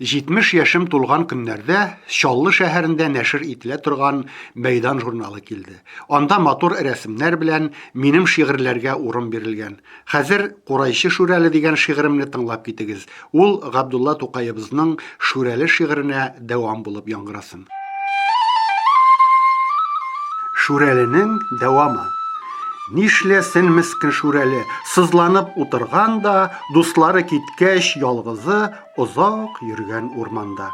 70 яшем тулган көннәрдә Чаллы шәһәрендә нәшер ителә торган Мәйдан журналы килде. Анда матур рәсемнәр белән минем шигырьләргә урын бирелгән. Хәзер Курайчы Шүрәле дигән шигыремне тыңлап китегез. Ул Габдулла Тукаебызның Шүрәле шигыренә дәвам булып яңгырасын. Шүрәленең дәвамы. Нишләсен мескен Шүрәле, сызланып утырган да, дуслары кит Кәч ялгызы озак йөргән урманда.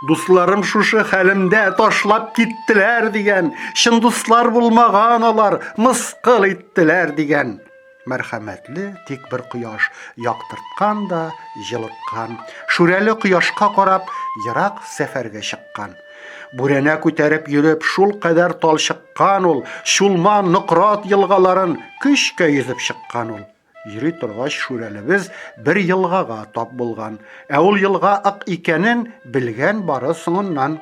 Дусларым шушы хәлемдә ташлап киттеләр дигән, чын дуслар булмаган алар, мыскыл иттеләр дигән мәрхәмәтле тик бер кояш яктырткан да җылыткан шүрәле кояшка карап ерак сәфәргә чыккан бүрәнә күтәреп йөреп шул кадәр талчыккан ул чулман нократ елгаларын көчкә йөзеп чыккан ул Йөри торгач, Шүрәлебез бер елгага тап булган. Ә ул елга ык икәнен белгән бары соңыннан.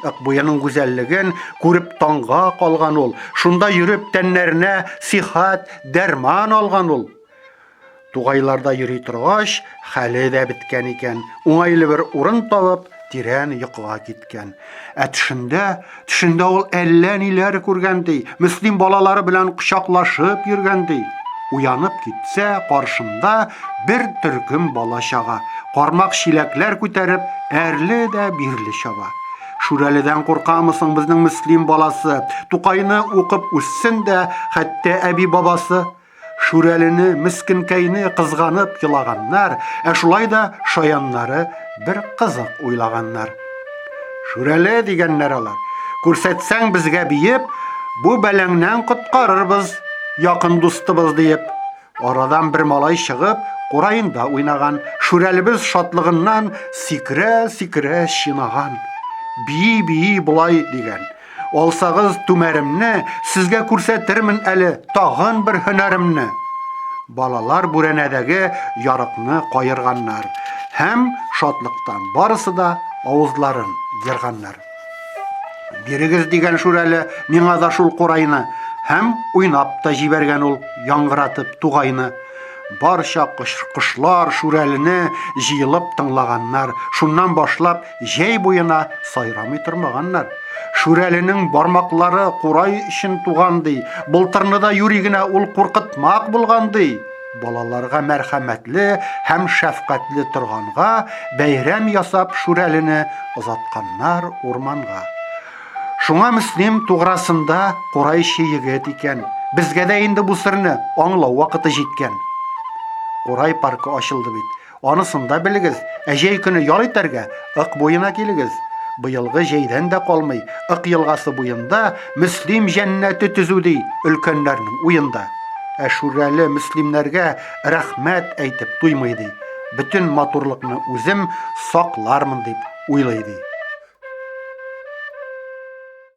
Ык буеның гүзәллеген күреп таңга калган ул. Шунда йөреп тәннәренә сихәт, дәрман алган ул. Тугайларда йөри торгач, хәле дә беткән икән. Уңайлы бер урын табып, тирән йокыга киткән. киткән. Ә төшендә, төшендә ул әллә ниләр күргән ди. Мөслим балалары белән кочаклашып йөргән ди. Уянып китсә, каршында бер төркем бала чага. Кармак чиләкләр күтәреп, әрле дә бирле чаба. Шүрәледән куркамы соң безнең Мөслим баласы? Тукайны укып үссен дә, хәтта әби-бабасы Шүрәлене, мескенкәйне кызганып елаганнар, ә шулай да шаяннары бер кызык уйлаганнар. Шүрәле дигәннәр алар, күрсәтсәң безгә биеп, бу бәләңнән коткарырбыз якын дустыбыз диеп. Арадан бер малай чыгып, кураенда уйнаган. Шүрәлебез шатлыгыннан сикерә-сикерә чинаган. Бии-бии болай дигән. Алсагыз түмәремне, сезгә күрсәтермен әле тагын бер һөнәремне. Балалар бүрәнәдәге ярыкны каерганнар һәм шатлыктан барысы да авызларын ерганнар. Бирегез дигән шүрәле миңа да шул курайны һәм уйнап та җибәргән ул яңгыратып тугайны. Барча кошлар шүрәлене җыелып тыңлаганнар. Шуннан башлап җәй буена сайрамый тормаганнар. Шүрәленең бармаклары курай өчен туган ди, былтырны да юри генә ул куркытмак булган ди. Балаларга мәрхәмәтле һәм шәфкатьле торганга, бәйрәм ясап Шүрәлене озатканнар урманга. Шуңа Мөслим туграсында курайчы егет икән. Безгә дә инде бу серне аңлау вакыты җиткән. Курай паркы ачылды бит. Анысын да белегез, ә җәй көне ял итәргә Ык буена килегез. Быелгы җәйдән дә калмый, Ык елгасы буенда Мөслим җәннәте төзү ди өлкәннәрнең уенда. Ә Шүрәле мөслимнәргә рәхмәт әйтеп туймый ди, бөтен матурлыкны үзем саклармын дип уйлый ди.